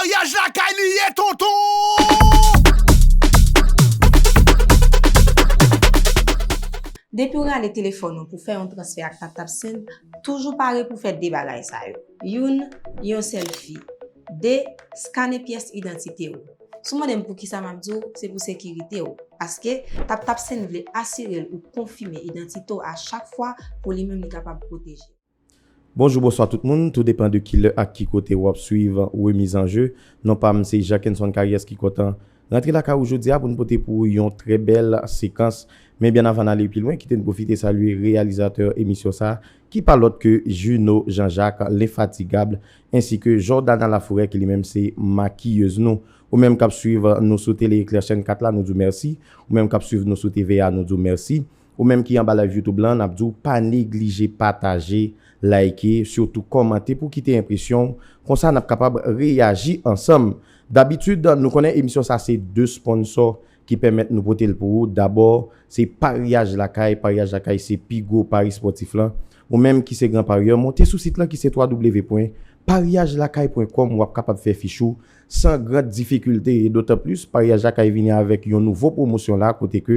Maryaj lakay li ye tonton! Depi w rale telefòn ou pou fè yon transfè ak TapTap Send, toujou pare pou fè 2 bagay sa yo. Youn, yon sèlfi. 2, skane pyès idantite ou. Si w mande m poukisa m ap di w, se pou sekirite w. Paske, TapTap Send vle asire l ou konfime idantite w a chak fwa pou li menm li kapab pwoteje w. Bonjou bonswa tout moun, tou depan de ki lè ak ki kote wap swiv remiz an je, non pam se Jackenson Caries ki kontan rantre lakay ou jodia poun pote pou ou yon trè bèl sekans, men byen avan n ale pi lwen kite'n pwofite salye reyalizatè emisyon sa ki pa lòt ke Juno Jean Jacques L'infatigable ensi ke Jordana Laforêt ki li menm se makiyez nou, ou menm kap swiv nou sou Télé Eclair chèn 4 la nou di'w mèsi, ou menm kap swiv nou sou TVA nou di'w mèsi. Ou menm ki anba live YouTube lan nap diw pa neglije pataje, like, sitou kòmante pou kite enpresyonw konsa nap kapab reyaji ansanm. Dabitid nou konnen emisyon sa se 2 sponsò ki pèmèt nou potel pou ou dabò se paryaj lakay, paryaj lakay se pi gwo pari spòtif lan. Ou menm ki se gran paryè monte sou sit lan ki se www.paryajlakay.com wap kapab fè fich ou san gran difikilte e dotan plis paryaj lakay vini avèk yon nouvo pwomosyon la kote ke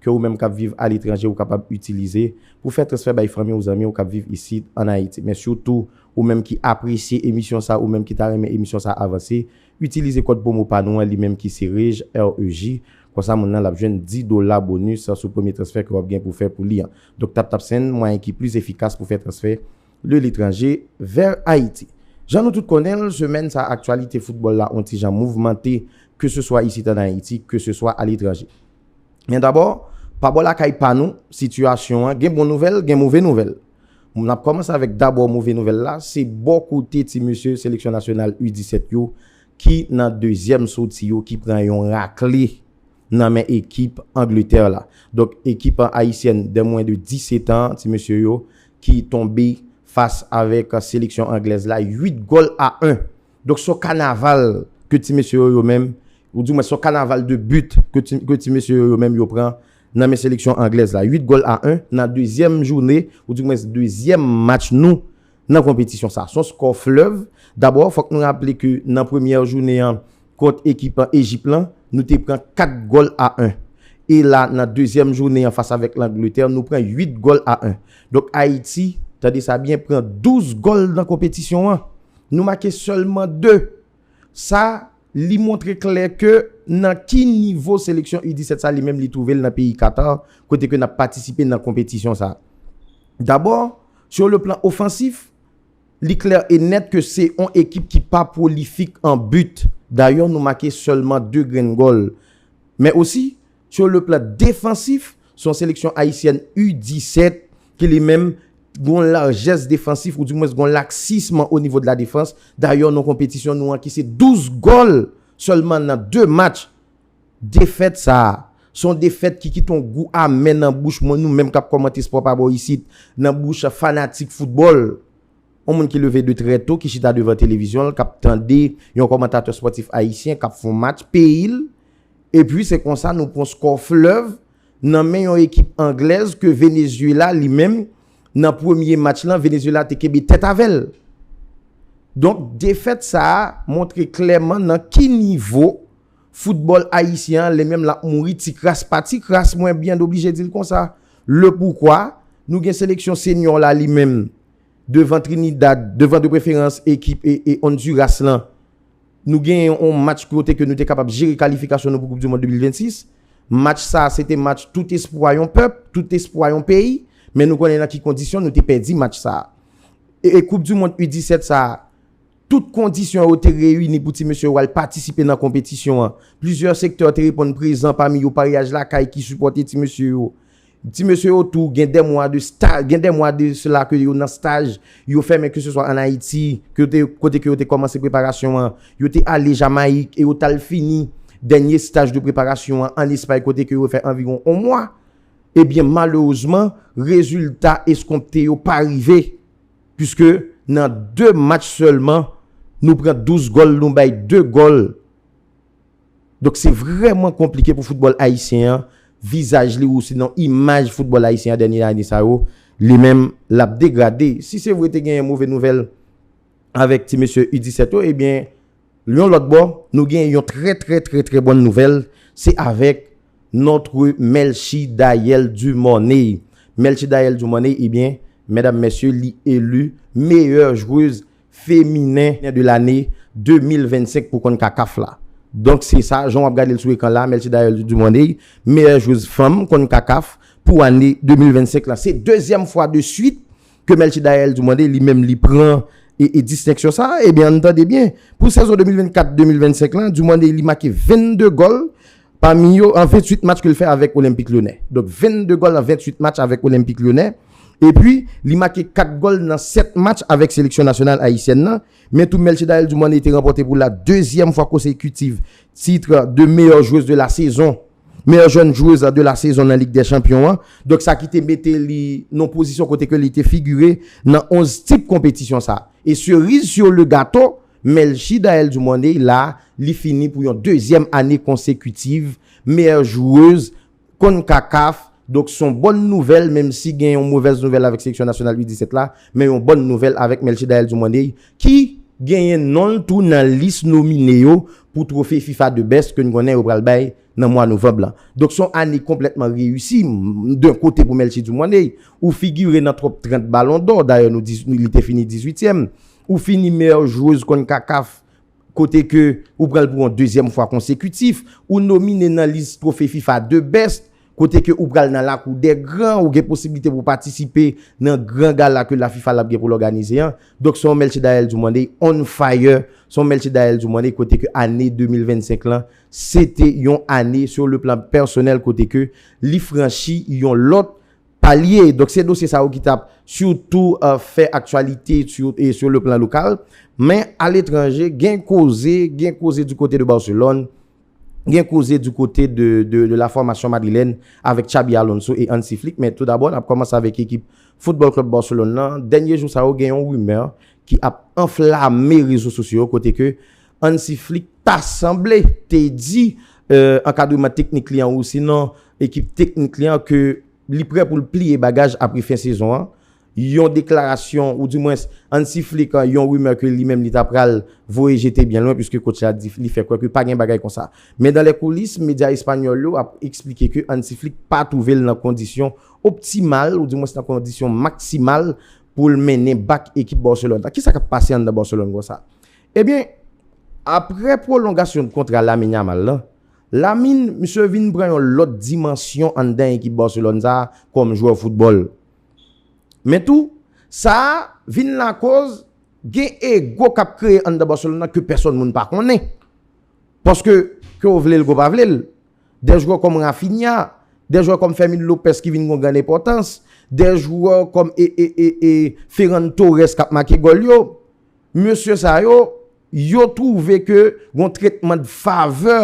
ke ou menm kap viv aletranje ou kapab itilize pou fè transfè bay fanmi ou zanmi ou kap viv isit an Ayiti men sitou ou menm ki apresye emisyon sa ou menm ki ta renmen emisyon sa avanse itilize kòd pwomo pa nou an li menm ki se REJ REJ konsa moun nan lap jwenn 10 dola bonus sou premye transfè ke wap gen pou fè pou li an donk TapTap se yn mwayen ki plis efikas pou fè transfè de letranje vèr Ayiti. Jan nou tout konnen l semèn sa aktyalite foutbòl la on ti jan mouvmante ke se swa isit an Ayiti ke se swa aletranje. Men dabò, pa bò lakay pa nou, sitiyasyon an gen bon nouvèl, gen move nouvèl. M ap kòmanse avèk dabò move nouvèl la, se bò kote ti mesye seleksyon nasyonal U 17 yo ki nan dezyèm soti yo ki pran yon rakle nan men ekip Angletè la. Donk ekip ayisyèn dè mwen de 17 an, ti mesye yo ki tonbe fas avèk seleksyon anglèz la 8 gòl a 1. Donk son kanaval ke ti mesye yo yo menm, ou di mwen son kanaval de but ke ti mesye yo yo menm yo pran nan men seleksyon anglèz la. 8 gòl a 1 nan dezyèm joune, ou di mwen dezyèm match nou nan konpetisyon sa. Son skò flèv. Dabò, fòk nou raple ke nan premyè joune an kont ekip Ejip lan, nou te pran 4 gòl a 1. E la nan dezyèm joune an fas avèk Langletè, nou pran 8 gòl a 1. Donk Ayiti, tande sa byen, pran 12 gòl nan konpetisyon an. Nou make sèlman 2. Sa Li montre klè ke nan ki nivo seleksyon U 17 sa li menm li twouve l nan peyi Qatar kote ke nap patisipe nan konpetisyon sa. Dabò Sou le plan ofansif Li klè e nèt ke se on ekip ki pa pwolifik an but dayè nou make sèlman 2 grenn gòl men osi Sou le plan defansif, se yon seleksyon ayisyèn U 17 ki li menm t gon lajès defansif ou di mwens gon laksism o nivo de la defans. Dayè non konpetisyon nou an ki se 12 gòl sèlman nan 2 match. Defèt sa a, se yon defèt ki kite yon gou amè nan bouch mwen, nou menm k ap kòmante spò pa bò isit, nan bouch fanatik foutbòl. Yon moun ki leve de trè to, ki chita devan televizyon l, k ap tande yon kòmantatè spòtif ayisyen k ap fè yon match peyi l, Epi se konsa nou pran skò Fleuve nan men yon ekip Anglèz ke Venezuela li menm nan premye match lan Venezuela te kenbe tèt avè l. Donk defèt sa a montre klèman nan ki nivo foutbòl ayisyen an li menm l ap mouri ti kras pa ti kras mwen byen oblije di l konsa. Le poukwa nou gen seleksyon senyò la li menm devan Trinidad, devan de preferans ekip Honduras lan. Nou gen yon match kote ke nou te kapab jere kalifikasyon nou pou koup du mond 2026. Match sa a se te match tout espwa yon pèp, tout espwa yon peyi. Men nou konnen nan ki kondisyon nou te pèdi match sa a. E koup du mond U17 sa a, tout kondisyon yo te reyini pou ti mesye yo al patisipe nan konpetisyon an. Plizyè sektè te reponn prezan pami yo paryaj lakay ki sipòte ti mesye yo. Ti mesye yo tou gen dè mwa de staj, gen dè mwa de sela ke yo nan staj, yo fè men ke se swa an Ayiti, ke yo te, kote ke yo te kòmanse preparasyon an, yo te ale Jamayik e yo t al fini dènye staj de preparasyon an an Espay kote ke yo fè anviwon on mwa, ebyen malerezman rezilta eskonpte yo pa rive, puiske nan 2 match sèlman nou pran 12 gòl nou bay 2 gòl Donk se vrèman konplike pou foutbòl ayisyen an, vizaj li ousinon imaj foutbòl ayisyen an dènye ane sa yo, li menm l ap degrade. Si se vre te genyen move nouvèl avèk ti mesye U 17 yo, ebyen yon lòt bò, nou genyen yon trè trè trè trè bòn nouvèl, se avèk notre Melchie Dayel Dumornay. Melchie Dayel Dumornay, ebyen, medam mesye, li elu meyè jweuz feminen de lane 2025 pou konn kakaf la donk se sa jan wap gadel sou ekran la mèsi dayèl dumorney meyè jwez fanm konn kakaf pou ane 2025 la se dezyèm fwa de swit ke mèsi dayèl dumorney li menm li pran e distenksyon sa ebyen ann tande byen pou sezon 2024 2025 la dumorney li make 22 gòl Pami yo an 28 match ke l fè avèk Olenpik Lyonè. Donk 22 gòl an 28 match avèk Olenpik Lyonè. Epi, li make 4 gòl nan 7 match avèk seleksyon nasyonal ayisyèn nan. Men tou Melchidaëlle Dumornay te ranpòte pou la dezyèm fwa konsekitiv titre de meyè jwez de la sezon, meyè jèn jwez de la sezon nan Lig dè Chanpyon an. Donk sa ki te mete li nan pozisyon kote ke li te figire nan 11 tip konpetisyon sa. E seriz sur le gato, Melchie Daelle Dumornay la li fini pou yon dezyèm ane konsekitiv meyè jwez Concacaf donk son bòn nouvèl menm si gen yon movèz nouvèl avèk seleksyon nasyonal U 17 la men yon bòn nouvèl avèk Melchie Daelle Dumornay ki genyen non l tou nan lis nomine yo pou trofe fifa the best ke n konnen yo pral bay nan mwa novanb la. Donk son ane konplètman reyisi d'un kote pou Melchie Dumornay, ou figure nan top 30 ballon d'or, dayè nou di li te fini 18 tièm, ou fini meilleure joueuse Concacaf kote ke ou pranl pou yon dezyèm fwa konsekutif, ou nomine nan lis trofe fifa The Best kote ke ou pral nan lakou dè gran, ou gen posibilite pou patisipe nan gran gala ke la fifa lap gen pou l òganize an. Donk son Melchie Daelle Dumornay on fire, son Melchie Daelle Dumornay kote ke ane 2025 lan Se te yon ane sou le plan pèsonèl kote ke li franchi yon lòt palye. Donk se dosye sa yo ki tap sitou fè aktyalite sou le plan lokal. Men a letranje gen koze, gen koze di kote de Barcelone, gen koze di kote de la fòmasyon madrilèn avèk Xabi Alonso e Hansi Flick. Men tou dabò nap kòmanse avèk ekip Football Club Barcelone nan. Dènye jou sa yo gen yon rimè ki ap anflame rezo sosyo yo kote ke Hansi Flick ta sanble te di ankadreman teknik li an osinon ekip teknik li an ke li prè pou l pliye bagaj apre fen sezon an. Yon deklarasyon ou di mwens Hansi Flick yon rimè ke li menm li ta pral voye jete byen lwen puiske kotch la di li fè kwè ke pa gen bagay konsa. Men dan lè koulis medya espanyòl yo ap eksplike ke Hansi Flick pa twouve l nan kondisyon optimal ou di mwens nan kondisyon maksimal pou l mennen bak ekip Barcelone la. Kisa k ap pase anndan Barcelone konsa? Ebyen, aprè pwolongasyon kontra Lamine Yamal lan, Lamine, misye vin pran yon lòt dimansyon anndan ekip Barcelone sa a kòm jwè foutbòl. Men tou, sa a vin lakoz gen ego k ap kreye anndan Barcelone lan ke pèsòn moun pa konnen. Paske, ke w vle l ke w pa vle l, de jwè kòm Raphinha, de jwè kòm Fermin Lopez ki vin gon grann enpòtans, de jwè kòm e, e, e, e, Ferran Torres k ap make gòl yo, mesye sa yo, yo twouve ke gon tretman de favè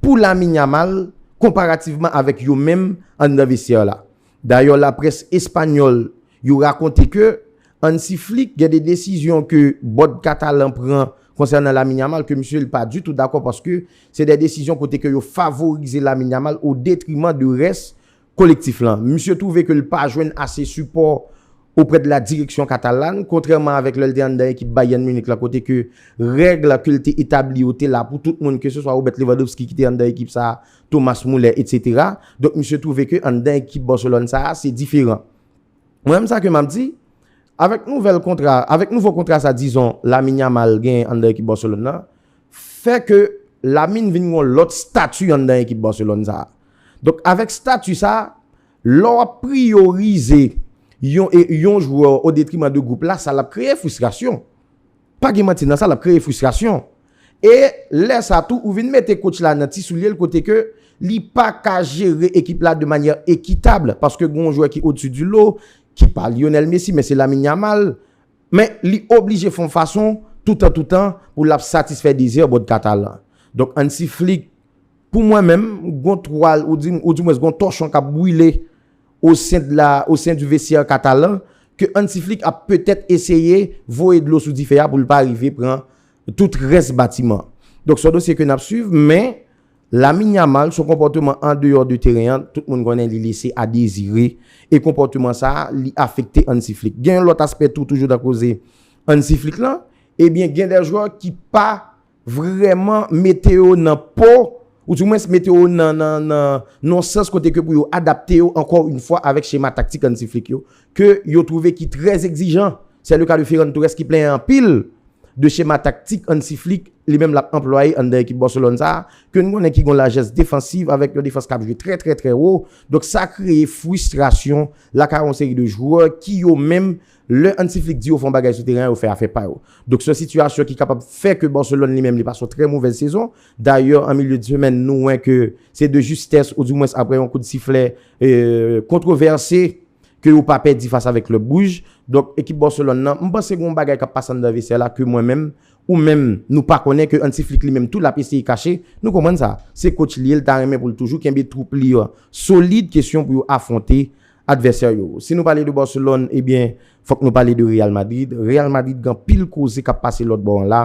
pou Lamine Yamal konparativman avèk yo menm anndan vestyè la. Dayè laprès espanyòl yo rakonte ke Hansi Flick gen de desizyon ke bòd katalan pran konsènan Lamine Yamal ke misye li pa ditou dakò paske se de desizyon kote ke yo favorize Lamine Yamal o detriman de rès Kolektif lan. Misye twouve ke l pa jwenn ase sipò oprè de la direksyon katalan, kontrèman avèk lè l te anndan ekip Bayern Munich la kote ke règ ke l te etabli yo te la pou tout moun ke se swa Robert Lewandowski ki te anndan ekip sa a, Thomas Muller etc. Donk misye twouve ke anndan ekip Barcelone sa a se diferan. Mwen menm sa ke m ap di, avèk nouvèl kontra, avèk nouvo kontra sa dizon Lamine Yamal genyen anndan ekip Barcelone nan, fè ke Lamine vin yon lòt stati anndan ekip Barcelone sa. Donk avèk stati sa, lè w ap priyorize yon yon jwè o detriman de gwoup la, sa l ap kreye fristrasyon. Pa gen manti nan sa, l ap kreye fristrasyon. E lè sa tou, ou vin mete coach la nan ti soulye l kote ke li pa ka jere ekip la de manyè ekitab paske gen yon jwè ki odsi di lo, ki pa Lionel Messi men se Lamine Yamal. Men, li oblije fon fason, toutan toutan, pou l ap satisfè dezè bòd Katalan. Donk, Hansi Flick, pou mwen menm, gon twal, ou di m, ou di mwens, gon tòchon k ap brile o sen de la, o sen du vestiaire Katalan, ke Hansi Flick ap petèt eseye voye dlo sou dife a pou l pa rive pran tout rès batiman. Donk, s on dosye ke n ap swiv, men. Lamine Yamal son konpòteman andeyò de teren an tout moun konnen li lese a dezire e konpòteman sa li afekte Hansi Flick. Gen yon lòt aspè tou toujou nan koze Hansi Flick lan, ebyen gen dè jwè ki pa vrèman mete yo nan po ou di mwens mete yo nan nan nan yon sans kote ke pou yo adapte yo ankò yn fwa avèk chema taktik Hansi Flick yo ke yo twouve ki trè egzijan, sè le ka de Ferran Torres ki plenyen anpil de chema taktik Hansi Flick li menm lap anplwaye anndan ekip Barcelone sa, ke n konnen ki gon lajès defansiv avèk yon defans kap jwe trè trè trè wo, donk sa kreye fwistrasyon lakay yon seri de jwè ki yo menm lè Hansi Flick di yo fè yon bagay sou teren an yo fè afè pa yo. Donk se yon sitiyasyon ki kapab fè ke Barcelone li menm li pase yon trè movèz sezon, Dayè an milye d'semèn nou wè ke se de justès ou di mwens aprè yon kout siflè kontwovèse ke yo pa pèdi fas avèk klèb wouj. Donk ekip Barcelone nan m panse gen yon bagay kap pase anndan vestè la ke mwen menm ou menm nou pa konnen ke Hansi Flick li menm tou lap eseye kache. Nou konprann sa. Se coach li ye li ta renmen pou l toujou kenbe twoup li an solid kesyon pou yo afwonte advèsè yo. Si nou pale de Barcelone ebyen fòk nou pale de Real Madrid. Real Madrid gen anpil koze kap pase lòt bò an la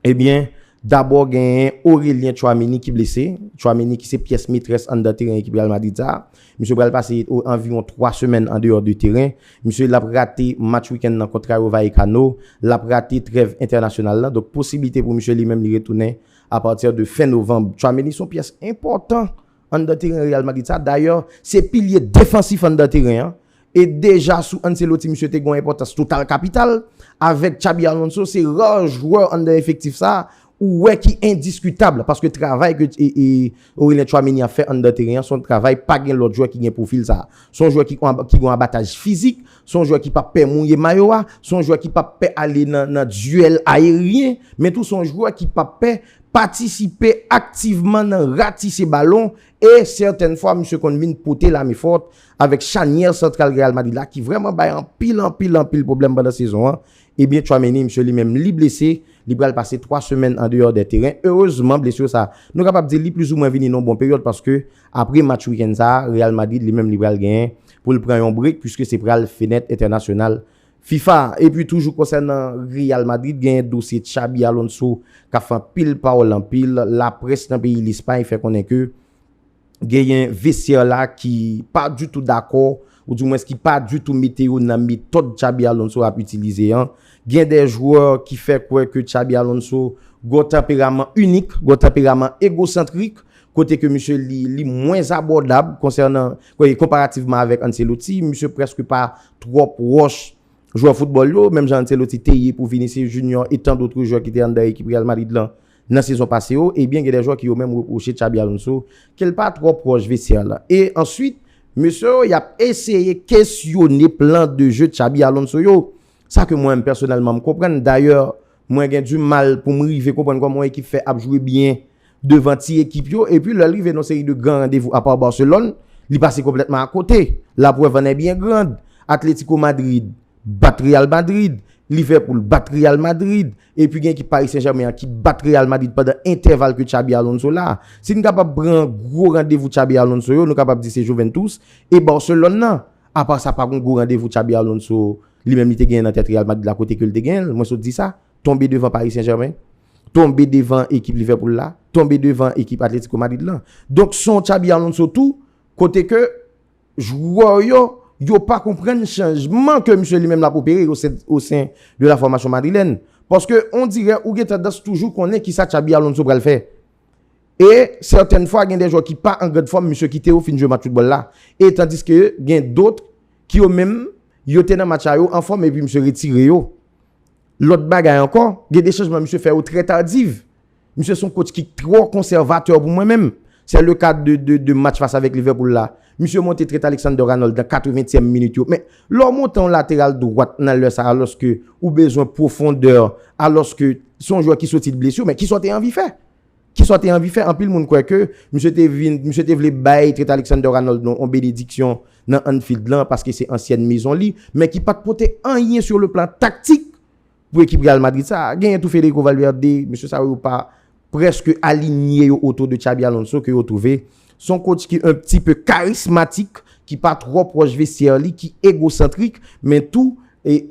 Ebyen, dabò genyen Aurelien Tchouaméni ki blese. Tchouaméni ki se pyès metrès anndan teren ekip Real Madrid sa a. Misye pral pase anviwon 3 semèn andeyò de teren. Misye l ap rate match wikenn nan kont Rayo Vallecano. L ap rate trèv entènasyonal la. Donk posiblite pou misye li menm li retounen apati de fen novanm. Tchouaméni se yon pyès enpòtan anndan teren Real Madrid sa a. Dayè, se pilye defansif anndan teren an. E deja sou Ancelotti misye te gen yon enpòtans total kapital, avèk Xabi Alonso se ra jwè anndan efektif sa ou wè ki endiskitab paske travay ke Aurelien Tchouaméni ap fè anndan teren an se yon travay pa gen lòt jwè ki gen pwofil sa. Se yon jwè ki gen abataj fizik, se yon jwè ki pap pè mouye mayo a, se yon jwè ki pap pè ale nan duèl aeryen, men tou se yon jwè ki pap pè patisipe aktivman nan ratise balon e sètèn fwa misye konn vin pote la men fòt Avèk chanyè santral Real Madrid la ki vrèman bay anpil anpil anpil pwoblèm pandan sezon an, ebyen Tchouaméni misye li menm li blese, li pral pase 3 semèn andeyò dè teren. Erezman blesur sa, nou kapab di li plizoumwen vini nan bon peryòd paske apre match wikenn sa, Real Madrid li menm li pral genyen pou l pran yon break puiske se pral fenèt entènasyonal fifa a. Epi toujou konsènan Real Madrid genyen dosye Xabi Alonso kap fè anpil pawòl anpil laprès nan peyi Lespay fè konnen ke. genyen vestiaire la ki pa du tou dakò ou di mwens ki pa du tou mete yo nan metòd Xabi Alonso ap itilize an. Gen de jwè ki fè kwè ke Xabi Alonso gon tanperaman inik, gon tanperaman egosantrik, kote ke misye li mwens abòdab konsènan, konparativman avèk Ancelotti, misye prèske pa twòp wòch jwè foutbòl yo, menm jan Ancelotti te ye pou Vinicius Junior et tant d'autres jwè ki te anndan ekip Real Madrid lan Nan sezon pase yo, ebyen gen de jwè ki yo menm repwoche Xabi Alonso ke l pa twò pwòch vestyè la. E answit, mesye yo y ap eseye kesyone plan de je Xabi Alonso yo. Sa ke mwen pèsonèlman m konprann, dayè mwen gen di mal pou m rive konprann kòman yon ekip fè ap jwe byen devan ti ekip yo, epi lè l rive nan yon seri de gran randevou apa Barcelone, li pase konplètman akote. Laprèv an è byen grand, Atlético Madrid, bat Real Madrid, Liverpool bat Real Madrid, epi gen ekip Paris Saint Germain an ki bat Real Madrid pandan entèval ke Xabi Alonso la a. Si n kapab pran gwo randevou Xabi Alonso yo, nou kapab di se Juventus e Barcelone nan. Apa sa pa gon gwo randevou Xabi Alonso li menm li te genyen nan tèt Real Madrid la kote ke l te genyen l, mwen sot di sa, tonbe devan Paris Saint Germain, tonbe devan ekip Liverpool la, tonbe devan ekip Atletico Madrid lan. Donk se yon Xabi Alonso tou kote ke. Jwè yo, yo pa konprann chanjman ke misye li menm lap opere yo o sen de la fòmasyon madrilèn. Paske ondirè ou gen tandans toujou konnen kisa Xabi Alonso pral fè. E sètèn fwa gen de jwè ki pa an grand fòm misye kite yo fin jwe match foutbòl la. E tandiske gen dotr ki yo menm yo te nan match la yo an fòm epi misye retire yo. Lòt bagay ankò, gen de chanjman misye fè yo trè tardiv. Misye son coach ki trò konsèvatè pou mwen menm. Se le ka de match fas avèk Liverpool la. Misye monte Trent Alexander-Arnold nan 80 tièm minit yo. Men, lè w monte yon lateral dwat nan lè sa alòske ou bezwen pwofondè, alòske se yon jwè ki soti de blesi, men kisa w te anvi fè? Kisa w te anvi fè? Anpil moun kwè ke misye te vin, misye te vle bay Trent Alexander-Arnold yon benediksyon nan Anfield lan paske se ansyèn mezon li, men ki pat pote anyen sur le plan taktik Pou ekip Real Madrid sa, genyen tou Federico Valverde, mesye sa yo pa prèske alinye yo otou de Xabi Alonso ke yo twouve se yon coach ki un pti peu karismatik, ki pa twò pwòch vestyè li, ki egosantrik, men tou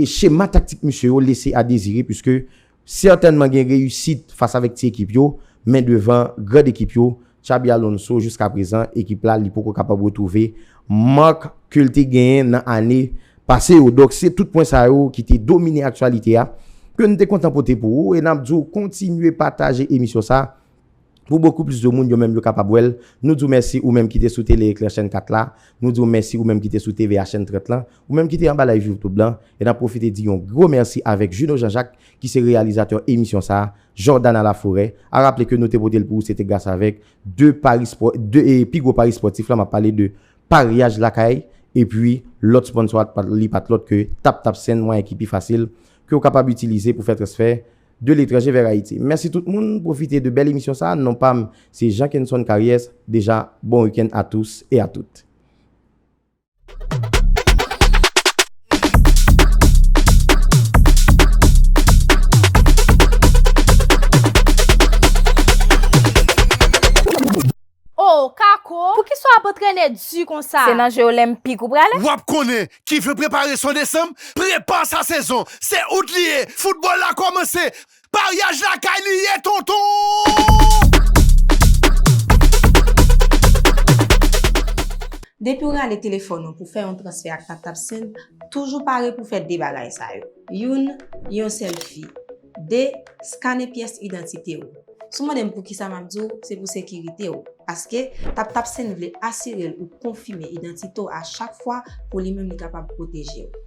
chema taktik misye yo lese a dezire puiske sètènman gen reyisit fas avèk ti ekip yo, men devan grand ekip yo Xabi Alonso jiska prezan ekip la li poko kapab retwouve mark ke l te genyen nan ane pase yo. Donk se tout pwen sa yo ki te domine aktyalite a ke n te kontan pote pou ou e n ap di w kontinye pataje emisyon sa pou bokou plis de moun yo menm yo kapab wè l. Nou di w mèsi ou menm ki te sou Tele Eklè chèn 4 la, nou di w mèsi ou menm ki te sou TVA chèn 30 lan, ou menm ki te anba live youtube lan e n ap pwofite di yon gwo mèsi avèk Juno Jean Jacques ki se reyalizatè emisyon sa Jordana Laforêt, a raple ke nou te pote l pou ou se te gras avèk 2 pari spò, 2 pi gwo pari spòtif la, m ap pale de paryaj lakay epi lòt sponsò a li pa t lòt ke TapTapSend, mwayen ki pi fasil ke ou kapab itilize pou fè transfè de letranje vèr Ayiti. Mèsi tout moun, pwofite de bèl emisyon sa a, non pa m se Jean Kenson Karyès, deja bon week-end à tous et à toutes. Oh kako, poukisa w ap antrene di konsa? Se nan je olenpik ou prale? W ap konnen, ki vle prepare son desanm, prepa sa sezon! Se out li ye, foutbòl la kòmanse! Maryaj lakay li ye tonton! Depi w rale telefòn ou pou fè yon transfè ak TapTap Send, toujou pare pou fè 2 bagay sa yo. Youn, yon sèlfi. 2, skane pyès idantite ou. Si w mande m poukisa m ap di w, se pou sekirite w. Paske, TapTap Send vle asire l ou konfime idantite w a chak fwa pou li menm li kapab pwoteje w.